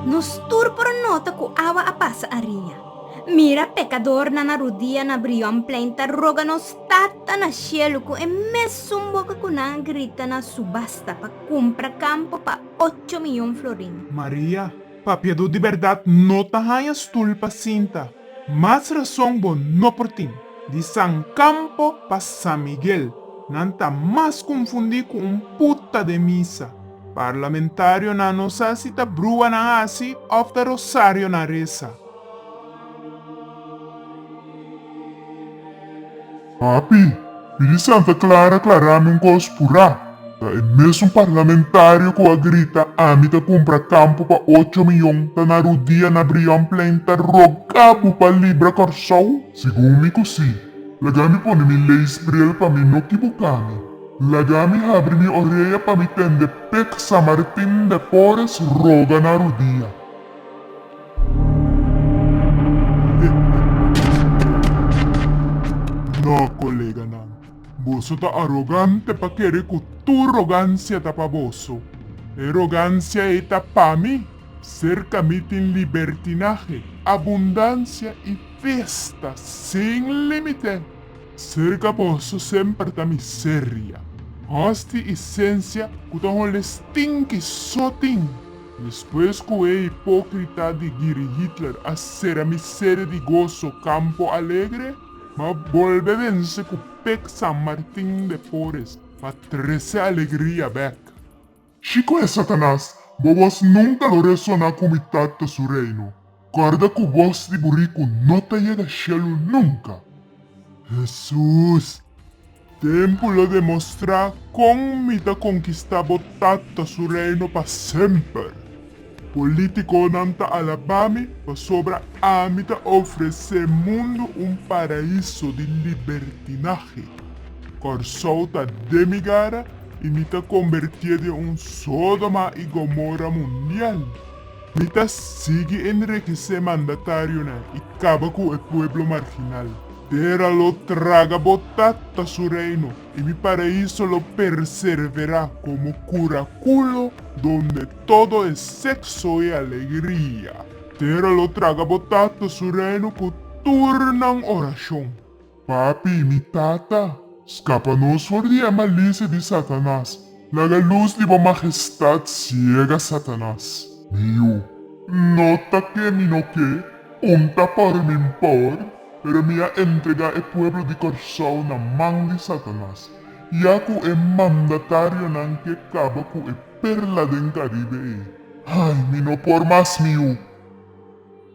Nos tur por a nota ku awa a pasa ariña. Mira pekadornan a rudia na Brionplein ta roga nos Tata na shelu ku e mesun boka ku nan a grita na subasta pa kumpra kampo pa ocho miyon florin. Maria, Papiadó di bèrdat no ta haña stul pa sinta. Mas rason bo no por tin. Di San Campo pa San Miguel, nan ta mas konfundí ku un puta den misa. Parlamentarionan no sa si ta brua nan hasi òf ta rosario nan resa. Papi, mi di Santa Clara klarami un kos purá, ta e mesun parlamentario ku a grita ami ta kumpra kampu pa ocho miyon ta na rudia na Brion Plain ta rogá bo pa libra Kòrsou? Segun mi ku sí, laga mi pone mi leis bril pa mi no kibuká mi, laga mi habri mi orea pa mi tende pek San Martin depores roga na rudia. No, koleganan. Boso ta arogante pa kere ku tur rogansia ta pa boso. E rogansia ei ta pa mi. Serka mi tin libertinahe, abundansia i festa sin límite. Serka boso semper ta miseria, hosti i sensia ku ta hole stinki so tin. Despues cu e hipócrita di Giri Hitler a sera mi sede di gozo, campo alegre, m'a bolbe vence cu pek San Martin de Pores pa trece alegria bek. Chico e Satanas, bo voz nunca lo resona cu mitad ta su reino. Corda cu voz di buricu no ta yega shelu nunca. Hesus! Tempu lo demostra con mi ta conquista bo Tata su Reino pa semper. Politiconan ta alaba mi pasobra ami ta ofrece mundu un paraiso di libertinahe. Corsou ta den mi gara y mi ta conbertie den un Sodoma y Gomora mundial. Mi ta sigui enriquece mandatarionan y caba cu e pueblo marginal. Tera lo traga bo tata su reino y mi paraiso lo perservera como curaculo donde todo e sexo e alegria. Tera lo traga bo tata su reino cu tur nan oracion. Papi, mi Tata, skapa nos for di e malicia di Satanas. Laga luz di bo Majestad ciega Satanas. Mi yu, No ta ke mi no ke, un ta por min por, pero mi a entrega e pueblo di Corsou na man di Satanas, ya cu e mandatarionan ke caba cu e perla den Caribe ey. Ay, mi no por mas mi yu.